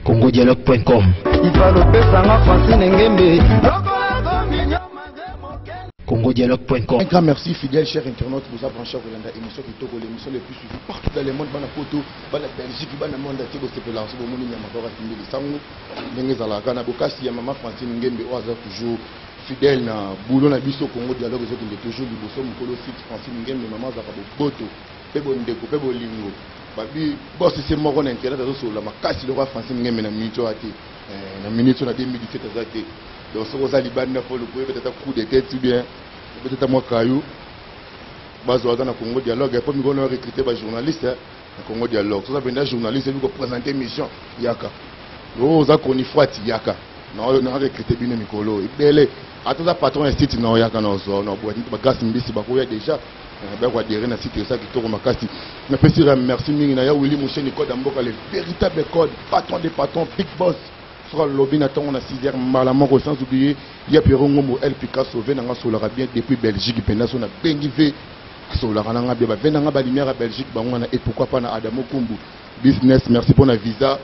congodialogue.com congodialogue.com grand merci fidèle cher internaute vous a branché kolanda émission kitoko l'émission le plus suivi partout dans le monde bana poto bana belgique bana monde atiye bosepela yanso bomoni nyama baka timbeli sango ndenge ezalaka na bokasi ya mama francine ngembe oyo aza toujours fidèle na boulot na biso congo dialogue ezokende toujours liboso mokolo site francine ngembe mama azalaka boboto mpe bondeko mpe bolingo babi bosi se moko na internet azosolola makasi lokola francine ngembe na minute oyo te eh, na minute oyo na 2017 aza te donc soki oza libanda fo lokoye peut ata coup de tête ou bien peut ata mwa kayu bazwa aza na congo dialogue mpo mikolo na recrute bajournaliste na Congo dialogue soza penda journaliste ebi ko présenter émission yaka yo oza chronifuati yaka na na recruter bino mikolo ebele ata oza patron ya site na oyaka na ozo na boati ba gas mbisi bakoya déjà ba ko adhérer na site esa kitoko makasi na pesi ra merci mingi na ya Willy Musheni code mboka le véritable code patron des patrons big boss sera lobby na tongo na 6h mbala moko sans oublier ya Pierrot Ngombo El Picasso ve na nga solaka bien depuis Belgique penda so na bengi ve Asololaka na nga bien ba vin na nga ba lumière ya Belgique bango wana et pourquoi pas na Adamo Kumbu business merci pona visa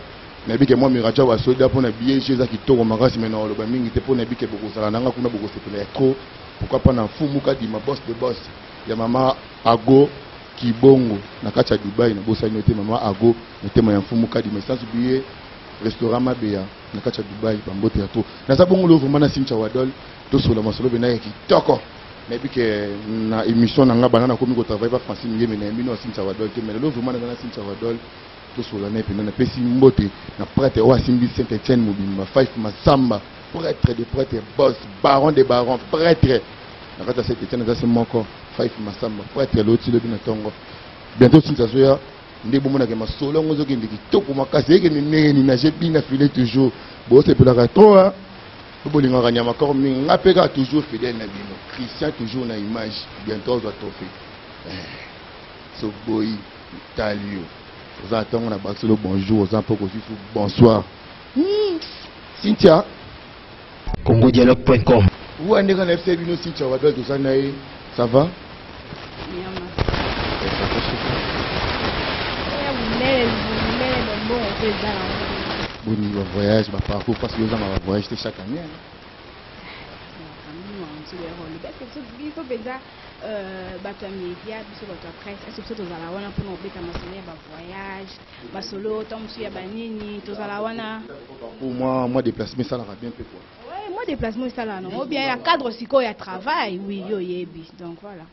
na bike mwa miraja wa soda pona billet jeu eza kitoko makasi mais na oloba mingi te pona bike bokozala na nga kuna bokosepela ya trop pourquoi pas na mfumu kadima boss de boss ya mama ago kibongo na kati ya Dubaï na bosani yo te mama ago motema ya mfumu kadima sans oublier restaurant mabeya na kati ya Dubaï bambote ya trop naza bongo lo vraiment na Cynthia Wadol tosola masolo bena ya kitoko nayebi ke na émission na nga banda nakomi kotravaille ba francine ngeme na yembi no asim salvador te mais lelo vraiment naza na sim salvador tosola na ye mpenza napesi mbote na prêtre oyo asimbi saint etienne mobimba fife masamba prêtre de prêtre bos baron de baron prêtre na kati ya saint etienne aza se moko fife masamba prêtre loti lobi na ntongo bientôt sins azoya nde bomonaka masolo yango ozokende kitoko makasi eyekende ndenge nini naje bina file toujours bosepelaka trop bolingaka nyama koko mingi nga mpe kaka toujours fidèle na bino christian toujours na image bientôt ozwa trophée eh, soboyi tali yo oza ntongo na basolo bonjour oza mpo kozwi su bonsoir hmm, cynthia congodialogue.com uwa ndenge na yebisa bino cynthia wabel toza na ye ça va boni ba voyage ba parcours parce que ozanga ba voyage te chaque année biso mpenza bato ya media biso bato ya presse ese biso tozala wana mpona kobeta masolo ya bavoyage masolo ntango mosusu ya banini tozala wana mwa déplacement esalaka bien mpe kua Ouais, moi déplacement esalana nango bien ya cadre sikoyo ya travail oui yo oyebi donc voilà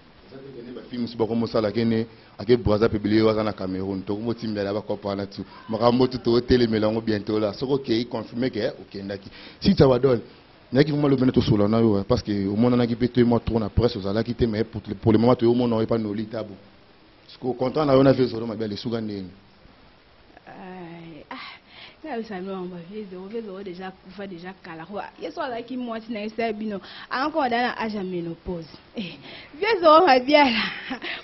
bafilme mosusu bako mosala kene ake braza mpe bilei waza na cameroun tokoki motimbela bakopa wana tu makambo tu totelemela yango bientôt la soki okei confirme ke okendaki sitsa badole nayaki vraimen lobena tosola na yo parce que omonanaki mpe to mwa trop na presse ozalaki te mais pour le moment toyomona yo epa noli tabu sikoyo contrat na yo na vie ezolo mabe alesuka ndeni Ah, nga bisa no ba vie zero vie zero déjà kufa déjà kala ko yesu azalaki mwasi na yesa bino anga ko dana age ya menopause eh vie zero ba biela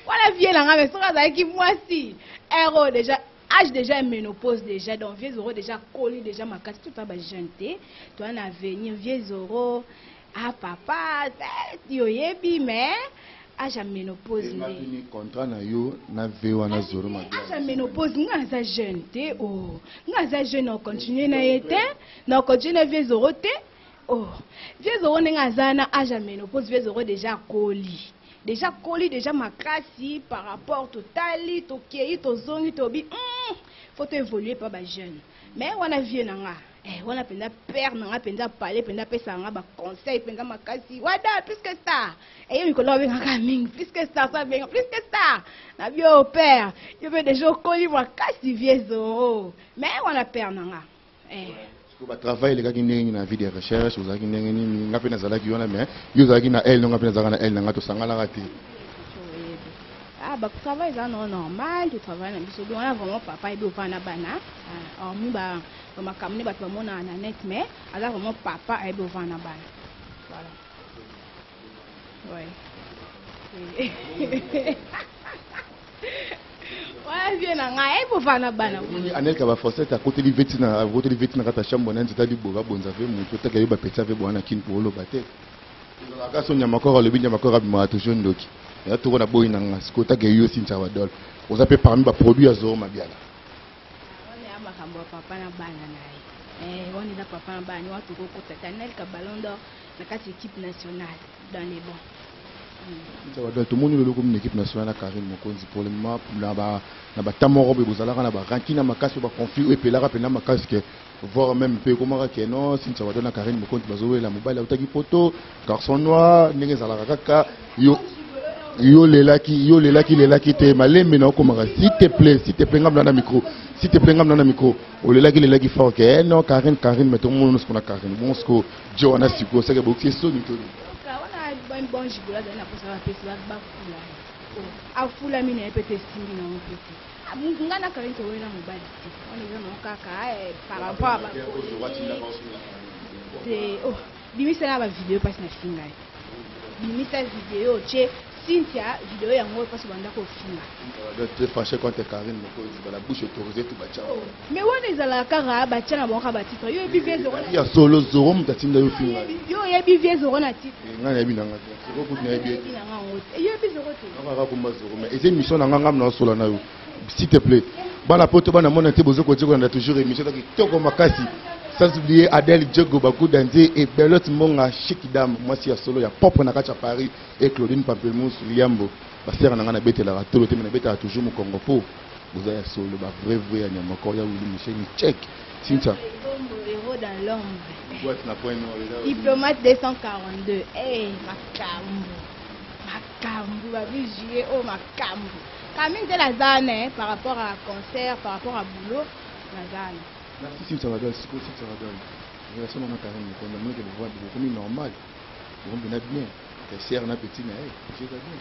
wana vie na nga mais soki azalaki mwasi ero déjà âge déjà menopause déjà donc vie zero déjà koli déjà makasi tout ba jeune te to na avenir vie zero Ah papa, eh, yo yebi mais âge ya ménopause nde. Ebabini contrat na yo na vie wana zoro mabe. Âge ya ménopause nga aza jeune te oh. Nga aza jeune na continuer na ye te, na continuer na vie zoro te. Oh, vie zoro ndenge aza na âge ya ménopause vie zoro déjà akoli. Déjà akoli déjà makasi par rapport totali, tokei, tozongi, tobi. Mm, faut to évoluer pa ba jeunes. Mais wana vieux na nga. Eh, wana mpenza père na nga mpenza pale mpenza apesaka nga baconseil mpenza makasi wada plus que ça eye mikolo abengaka mingi plus que ça so abenga plus que ça na bio père yo mpe deja okoli makasi vieux zoro mais wana père na nga eh. batravail elekaki ndenge nini na vie de recherche ozalaki ndenge nini nga mpe nazalaki wana mais yo ozalaki na l no nga mpe nazalaka na l na nga tosanganaka te ah batravail eza no normal totravail na biso donc wana vraiment papa ebi ovana bana ah, hormis ba ba makambo nde bato bamonaka na net mais aza vraiment papa ayebi ovanda na bana voilà ouais. wana vie na ngai ayebi ovanda na bana anelka baforsete akoteli veti na akoteli veti na kati ya chambre na nzeta liboka bonza ve moto otaki ayebi bapeti ave bwana kini kooloba te ezalaka so nyamakoro alobi nyamakoro abimaka toujours ndoki ya toko na boyi na nga sikoyo otaki eyo sintia badole oza mpe parmi baproduit ya zoro mabiala Wana eza makambo ya papa na bana na ye eh, wana eza papa na bana wana tokokota te anelka ballon d'or na kati ya equipe nationale dans les bons hmm. tomoni lelo komi na equipe nationale ya karine mokonzi pour le moment na batemps moko boye bozalaka na baranki na makasi oyo baconflit oyo epelaka mpenza makasi ke Voir meme mpe ekomaka ke non Cynthia Wada na Carine Mokonzi bazowelela mobali autaki poto garçon noir ndenge ezalaka kaka yo yo lelaki yo lelaki lelaki te malembe na okomaka s'il te plaît s'il te plaît nga mlanda micro s'il te plaît nga mlanda micro olelaki lelaki fort ke eh non Carine Carine mais tomono siko na Carine bon siko je wana siko seke boki esoni toni bon jibola azali na posa bapesi bakula afulami na ye mpe te esimbi na yango mpe te nga na karin towela mobali te wana eza nango kaka eh, par rapport ya bakote oh, bimisa na bavideo mpasi nafinga ye bimisa video ce cynthia video yango mpasi obanda kofinga très fâché contre karine mokozi bala bouche autorisé tout batia Mais wana ezalaka kaka batia na bango kaka ba titre. Yo yebi vie zoro. Ya solo zoro mutu atinda yo finga. Yo yebi vie zoro na titre. Eh, nga nayebi nanga te. Zoro kutu nayebi ye. Eh, yo yebi zoro te. Nga kaka kumba zoro mais eza émission na nga nga na sola na yo. S'il te plaît. Bana poto bana mona te bozo ko djeko na toujours émission ta kitoko makasi. Sans oublier Adèle Djego Bakou Danze et Belotte Monga Chic Dame, moi si ya solo ya propre na kacha Paris et Claudine Pampelmousse Liambo. Basera na nga na betelaka tolo te me na betaka toujours mokongo po boza ya solo ba vrai vrai ya nyama ko ya wili misheni check sinta euro dans l'ombre boîte na point noir diplomate 242 eh makambo makambo ba vu juillet oh makambo Camille de la zane eh, par rapport à concert par rapport à boulot la zane merci sinta la belle siko sinta la belle relation na Karine ko na mwe ke bovoa bokomi normal bombe na bien ya sœur na petit na ye je bien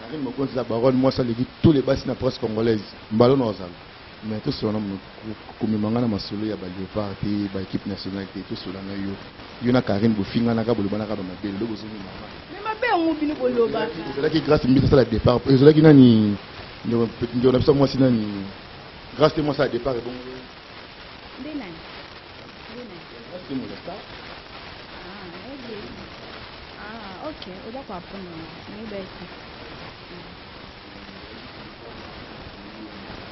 Carine mokonzi eza baronne mwasi aleki tous les basi na presse congolaise mbala na ozala mais tosola na mono komema ngai na masolo ya baleopard te ba équipe nationale te tosola na yo yo na Carine bofinganaka bolobanaka bamabe lelo bozongimama mabe yango bino boloba ezalaki grâce mbisa asala départ ezalaki nani ndeko na biso mwasi nani grâce te mwasi ya départ ebongo nde nani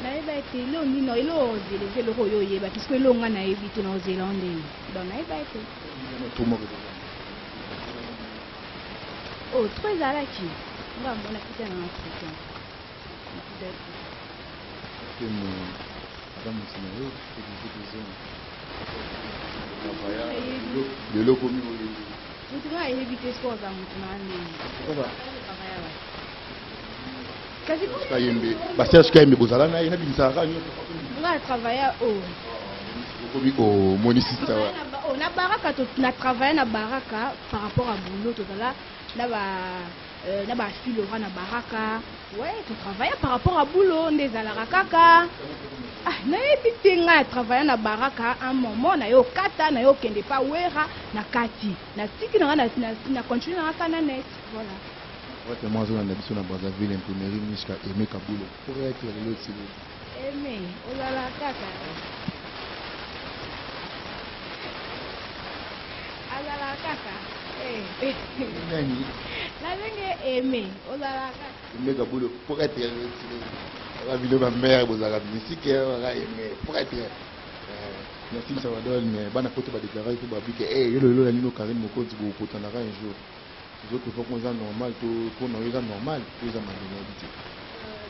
nayeba ete elo nino elo ozela eza eloko oyo oyeba puisque elo nga nayebi te na ozela o ndenge donc nayeba ete o oh, tro ezalaki nga amonaki te na africain basiaske yembe bozala na ye nabimisaka kaka nyonso nga travaille o oh. okomi komonisi sawa na baraka na travaille na baraka par rapport à boulot tozala na ba euh, na ba filora na baraka ouais to travaille par rapport à boulot nde ezalaka kaka ah, nayebi te ngai ya travaille na baraka un moment naye okata naye okende pa wera na kati natiki na ngai na continue na ngai kana net voilà Wate mwazo na biso na Brazzaville imprimerie Mishka Aimé Kabulo. Pour être le Aime ozala kaka azala kaka nani nazenge aime ozala kaka mbeka bulo prêtre ba bino ba mère bozala mystique wala aime prêtre euh, merci salvador mais bana poto ba déclaraki mpo babike e eh, yololola nino karine mokonzi bokokutanaka un jour Nzoto epa kuma eza normal to mpo na yo eza normal to eza mabe nayebi te.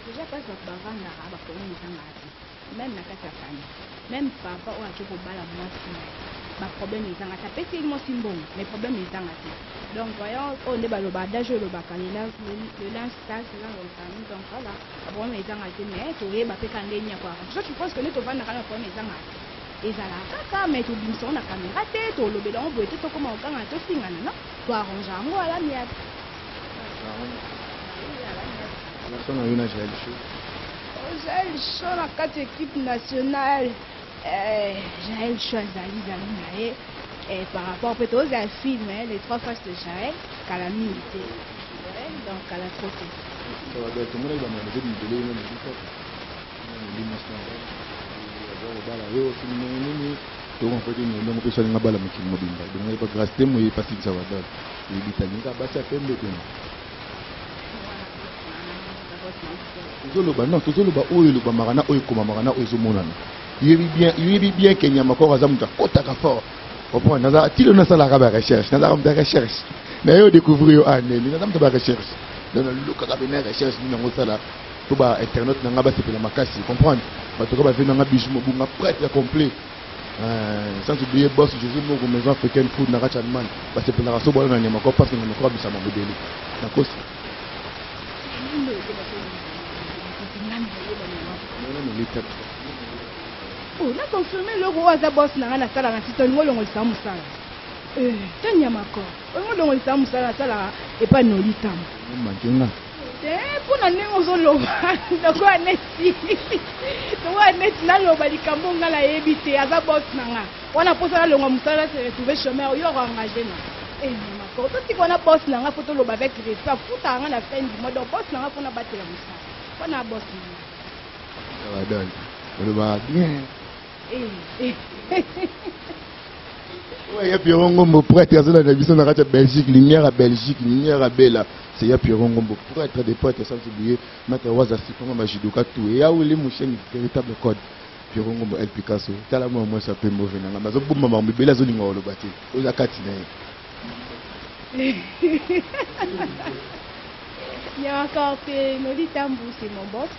Deja place bato bavandaka baproblème ezangaka te meme na kati ya famille meme papa oyo ake kobala mwasi na ye baproblème ezanga te apesi ye mwasi mbongo mais problème ezanga te donc voyant oyo nde baloba adage oyo elobaka le linge sale seza dans le famille donc voilà baproblème ezanga te mais toyeba mpe ka nde nini ya koyaka biso tu pense que nde tovandaka na problème ezangaka te Ezalaka kaka mais tobimisa yango na camera te, tolobela yango boye te, tokoma kogangana, tofingana, non, to arrange yango à l'amiable. Garçon na yo na Jael Show. Oh, Jael Show na kati équipe nationale. Eh, Jael Show azali zali na ye. Eh, par rapport peut aux un film, hein, les trois faces de Jael, kala mingi te. Eh, donc kala trop te. Ça va bien, tout le monde est dans le jeu du délai, même du temps. tozoloba non tozoloba oyo elobamaka na oyo ekomamaka na oyo ezomonana yoyebi bien ke nyamakoko aza moto akotaka fort comprendre naza tilo nasalaka ba recherche nazalaka moto ya recherche naye odecouvrir yo aneli naza moto ya ba recherche donc nalukaka bena recherche nini yango osala po ba internautes na nga basepela makasi comprendre bato ka bavie na nga bijou mobunga prêtre ya complet euh, sans oublier boss jésus mogo maison africaine food na kati allemagne basepelaka so bwana na nyama ko mpasi na moko abisama bobele nakosi oh, na confirme eloko oyo aza boss na nga nasalaka nsi tolingo olongolisa mosala eh, tanyama ko olingo olongolisa mosala asalaka epa nolitambo Te mpo na ndenge ozoloba nakoya neti nakoya neti naloba likambo nga nayebi te aza bos na nga wana mposa nalonga mosala se retrouve chemin oyo akoengage na elimako eh, tosika wana bos na nga mpo toloba avec respect afutaka nga na fin du mois donc bos na nga mpo nabatela mosala mpo na bos na nga olobaka bien oyo ya pierro ngombo prêtre azala na biso na kati ya belgique lumière ya belgique lumière ya bela c'est ya pierro ngombo prêtre de prêtre sans oublier mata waza sikongo majidoka tout eya wele mosheni véritable code pierro ngombo el picasso tala mwa mwasi ya pembo ve nanga bazobomba makambo ebele azolinga koloba te oza kati na ye Nyawaka mpe Nolita Mbusi Mombo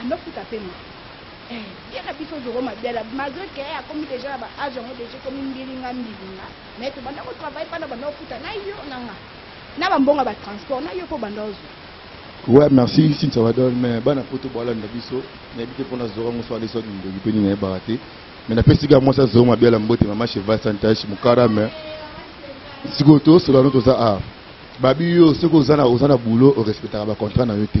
ando futa pe ma eh bien na biso zoro mabela malgré que akomi déjà na ba âge yango déjà komi mbilinga mbilinga mais to banda ko travailler banda banda futa na yo na nga na ba mbonga ba transport na yo po banda ozo Ouais, merci Cynthia Wadol, mais bana poto boala na biso, na bité pona zoro ngo soale so ndo gipe ni na barate. Mais na pesi ga mwasa zoro mabela mbote mama cheva santash mukara mais sikoto solo no toza a babi yo soki oza na oza na boulot orespectaka bacontrat na yo te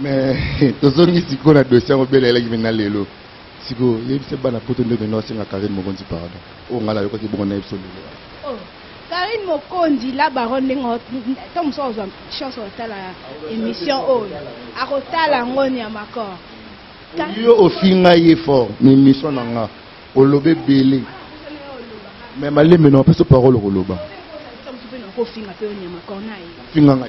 Mais tozongi sikoyo na dossier yango bela elaki mpe na lelo sikoyo yebisa bana poto nde okende osenga Karine Mokonzi pardon oyo ngai nayokaki bongo nayebi so lelo oh, Karine Mokonzi la baronne ndenge to mosusu ozwa chance otala émission oyo oh, akotala yango nyamakor yo ofinga ye fort na émission na nga oloba ebele mais malembe na opesa parole okoloba finga nga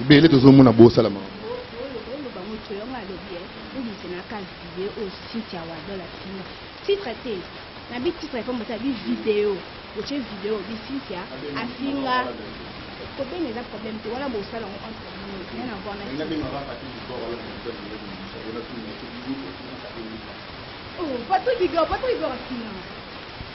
ebele tozomona bosala makambo titre te nabi titre po moto abi video otie video bi cynthia afinga kobenge eza problème te wana bosala yango entre rien avoir na oh pato digor pato digor afinga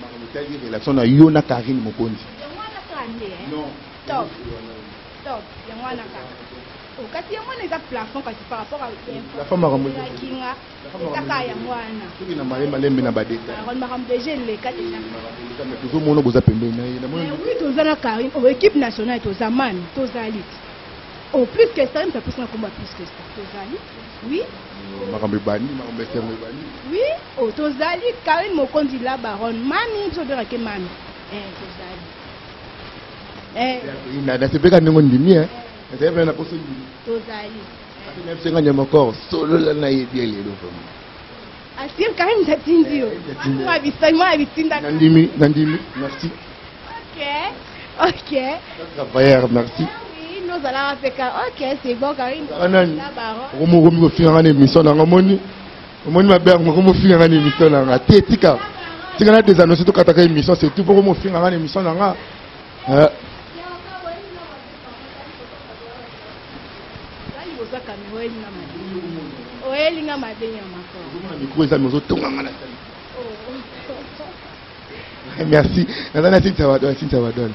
Makambo etali relation na yo na Carine Mokonzi. Yango wana kaka nde eh. Non. Top. Top. Yango wana kaka. Oh, kasi yango wana eza plafond kasi par rapport à la femme makambo ezalaki nga ezaka yango wana soki na maye malembe na badeta ah, makambo deja eleka deja tozomona boza pembeni na ye oui toza na carine o oh, équipe nationale toza mani tozali au oh, plus que ça mpe apesaka komba plus que ça tozali Oui. Makambo ebandi, makambo esengo ebandi. Oui, oh tozali Karine Mokonzi la baronne. Mami, biso bera ke mami. Eh, tozali. Eh. Na na sepeka ndenge ondimi eh. Na sepeka na poso ndimi. Tozali. Kasi na bisenga nyama corps solo la na ye bien lelo vraiment. Asir Karim Tatindi yo. Mwa bisa mwa bitinda. Nandimi nandimi merci. OK. OK. Travailleur merci. Oui, nous allons faire OK, c'est bon Karim. Anani. Okomo okomi ko finga na émission na ngamoni. Omoni mabe yango okomo finga na émission na nga. Te tika. Tika na des annonces to kataka émission, c'est tout pour okomo finga na émission na nga. Euh merci naza na sinta wadol sinta wadol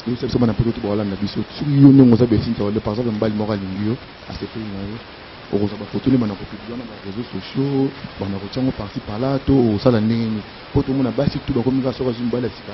oyebisa biso bana poto to bakolanda biso soki yo ndenge oza besinta wadol par exemple mobali moko alingi yo asepeli na yo okozwa bafoto nde bana kopiblia na bareseau sociaux bana kotya yango parti pala to osala ndenge nini mpo tomona basi tu bakomi kaka soki azwi mobali ya sika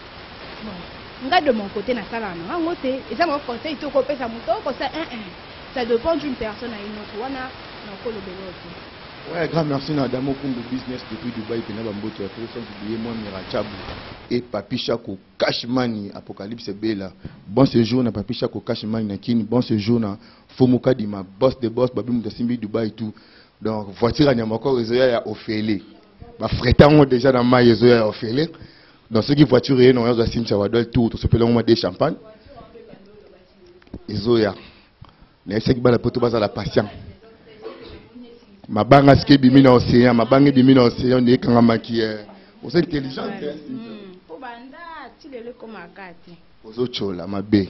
nga de mon côté nasalaka na ngango te eza mwa conseil te okopesa moto okosa un un ça dépend d'une personne à une autre wana nakolobela yo te ouais grand merci na adamo kumbu business depuis dubai pena bamboto ya trop sans oublier moi mirachabu et papi shako cash money apocalypse bela bon séjour na papi shako cash money na kin bon séjour na fomo kadima boss de boss babi moto asimbi dubai tout donc voiture ya nyamakoro ezoya ya ofele bafreta yango déjà na mai ezoya ya ofele donc soki voiture eye naoya zwa sintia wadol tour tosopela yango mwa de champagne ezoya nayebisaki bana poto bazala patient mabanga soki ebimi na océan mabanga ebimi na océan nde ekangamaki eh. oza intelligente eh, hmm, ozotyola mabe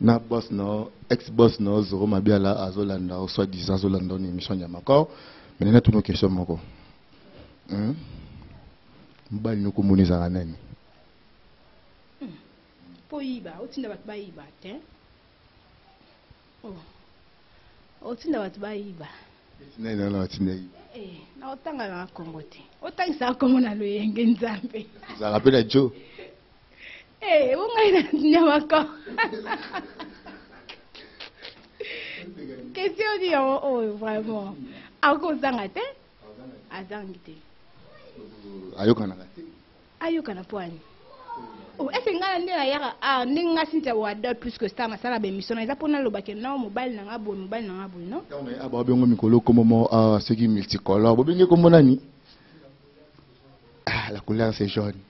na boss na yo ex boss na yo zoro mabiala azolanda yo soit disant azolanda yo na émission nyamakor mene natuna yo question moko hmm? mobali noko omoni ezalaka nani mpo hmm. oyiba otinda bato bayiba te oh. otinda bato bayiba nani nana batinda yiba eh, na otanga na kongo te otangisa kongo na loyenge nzambe ozalaka mpe na jo Eh, o ngai na nyama ka. Question ni yango oyo vraiment. Akozanga te? Azangi te. Ayokanaka te. Ayokana mpo ani? Oh, ese ngai nde nayaka a ah, ndenge ngai sintia wadol plus que star nasala baémission eza mpo nalobake no mobali na ngai boye mobali na ngai boye no ntango naye aba biongo mikolo kombo mo ah, soki multicolore bobenge kombo nani ah, la couleur c'est jaune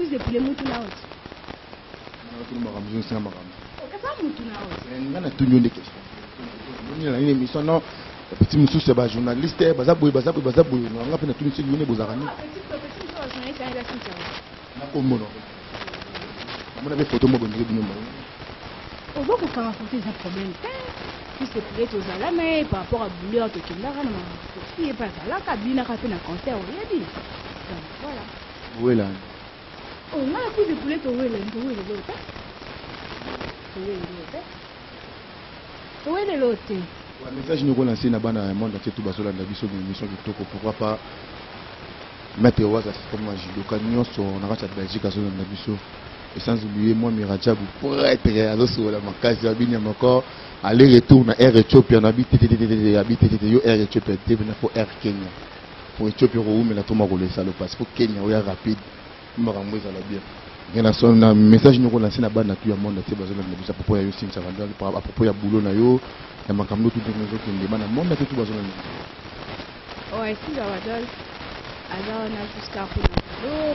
ozepile mutu na oti natuni makambo zosala makambo okasa mutu na oti eh, nga natuni yo nde question omoni na nini émission non petit mosusu ya bajournaliste baza boye baza boye baza boye nanga mpe natuni soki yo nde bozalaka nini Na kombo na Na mona pe photo moko ndenge bino moko. Ozo ko kanga photo eza problème te. Puis c'est peut être ozala na ye par rapport à boulot ya tokendaka na makofi ye pe azalaka binaka pe na concert oyebi. Donc voilà. Owela. Oh nga na kuzi poulet owela, owela owela. Owela owela. owelelo te ba message noko lancer na bana ya monde entier tout bazolanda biso ba émission kitoko pourquoi pas maître waza système ya judoka nyonso na kati ya belgique azolanda biso et sans oublier moi mirajabu prêtre azosolola makasi ya binia moko aller retour na air ethiopia na bitetetete abi tetete yo air ethiopia te na fo air kenya po ethiopia okowumela toma kolesa lopasi po kenya oya rapide makambo ezala bien mais na son na message noko lancer na bana tout ya monde entier bazo landa biso propos ya yo Sim Savanda à propos ya boulot na yo ya makambo tout ndenge ozo kende bana monde entier tout bazo landa biso ouais Sim Savanda aza wana jusqu'à kuna boulot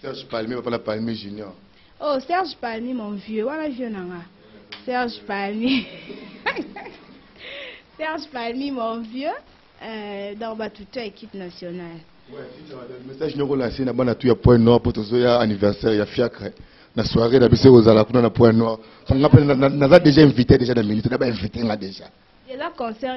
Serge Palmi papa na Palmi Junior. Oh Serge Palmi mon vieux, wana vieux nanga. Serge Palmi. Serge Palmi mon vieux euh, dans ba toute équipe nationale. Ouais, message noko la na bana tu ya point noir pour tozo ya anniversaire ya fiacre. La soirée la biso kozala kuna na point noir. Sanga pe naza déjà invité déjà na minute na ba invité nga déjà. Et là concert.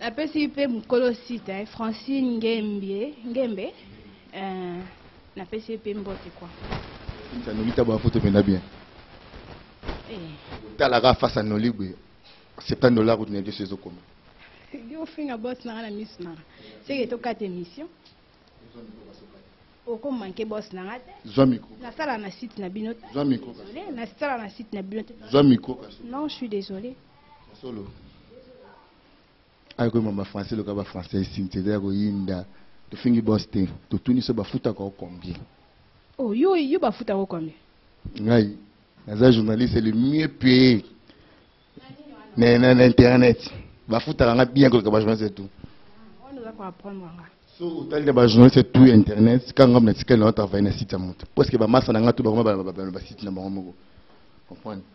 napesi mpe mokolo site eh, francine ngembie ngembe eh, napesi ye mpe mbote kwa nolita bafoto mpenza bien eh. talaka face anoligwe septane dollar kutu na biso ezokoma ofinga bos nanga na miso nanga seke tokata émission okomanke bos na nga te zwa mikro nasala na site na bino te zwa mikro nasala na site na bino te zwa mikro non je suis désolé Solo. Ayo koyemba ba français loka ba français sinti eza ya koyinda tofingi boss te totuni so bafutaka o combien oh, yo, yo bafutaka o combien ngai naza journaliste le mieux payé na, na, na internet bafutaka nga bien koleka bajournaliste tout so otali na bajournaliste tout ya internet kaka ngambo na tikali na otravaille na site ya moto parceke bamasa na nga to bakoma basite na bango moko comprendre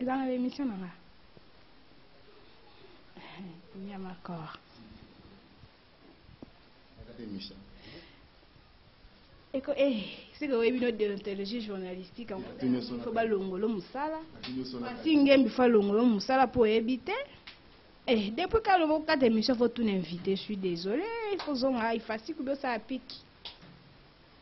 eza na emission na nga nyama kor eko eh sika oyebi bino deontologie journalistique fo balongolo mosala si ngembi fo alongolo mosala mpo oyebi te eh depuis kalo bokata émission fo tuna invité je suis désolé il faut zonga ifasiku biosala piki